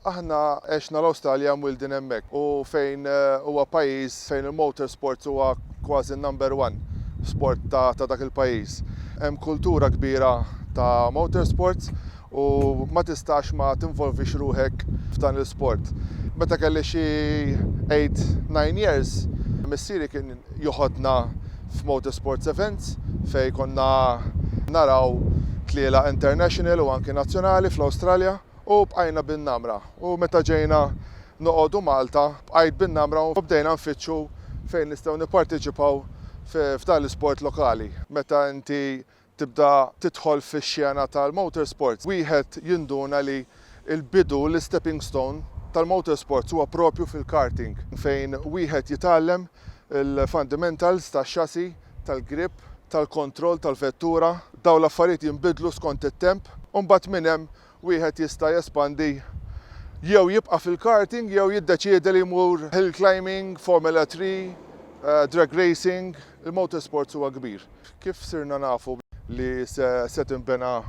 Aħna għexna l-Awstralja mwieldin hemmhekk u fejn huwa pajjiż fejn il-motor sports huwa kważi n-number one sport ta' ta' dak il-pajjiż. Hemm kultura kbira ta' motor sports u ma tistax ma tinvolvix ruħek f'dan l-isport. Meta kelli xi eight, nine years missieri kien joħodna f'motor sports events fejn konna naraw tlielaq international u anki nazzjonali fl-Awstralja. u bqajna bin-namra u meta ġejna noqogħdu Malta bqajt bin-namra u bdejna nfittxu fejn nistgħu nipparteċipaw f'dan l-isport lokali. Meta inti tibda tidħol fix-xena tal-motorsports wieħed jinduna li l-bidu, l-istepping stone tal-motorsports huwa proprju fil-karting fejn wieħed jitgħallem il-fundamentals tax-chassis tal-grip, tal-kontroll tal-vettura, dawn l-affarijiet jinbidlu skont it-temp u mbagħad minn hemm wieħed jista' jespandi jew jibqa' fil-karting jew jiddeċiedi li jmur hill climbing, Formula Three, drag racing, il-motorsports huwa kbir. Kif sirna nafu li se tinbena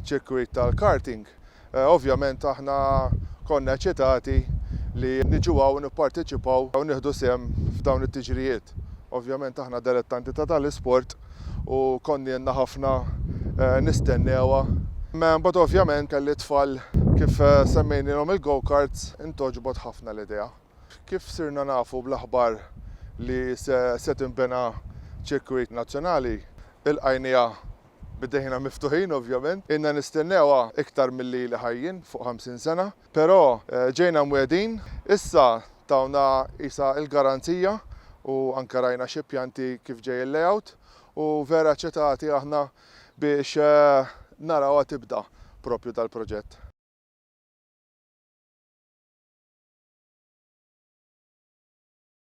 ċirkwit tal-karting? Ovvjament aħna konna eċċitati li niġu hawn nipparteċipaw u nieħdu sehem f'dawn it-tiġrijiet. Ovvjament aħna delettanti ta' dan l-isport u konnielna ħafna nistennewha. Imbagħad ovvjament kelli t-tfal kif semmejnielhom il-go-karts intgħoġbot ħafna l-idea. Kif sirna nafu bl-aħbar li se tinbena ċirkwit nazzjonali, ilqajniha Bdejna miftuħin ovvjament, ilna nistennewha iktar milli ili ħajjien, fuq 50 sena, però ġejna mwiegħdin, issa tawna qisha l-garanzija u anke rajna xi pjanti kif ġej il-layout u vera ċetati aħna biex narawha tibda proprju dal-proġett.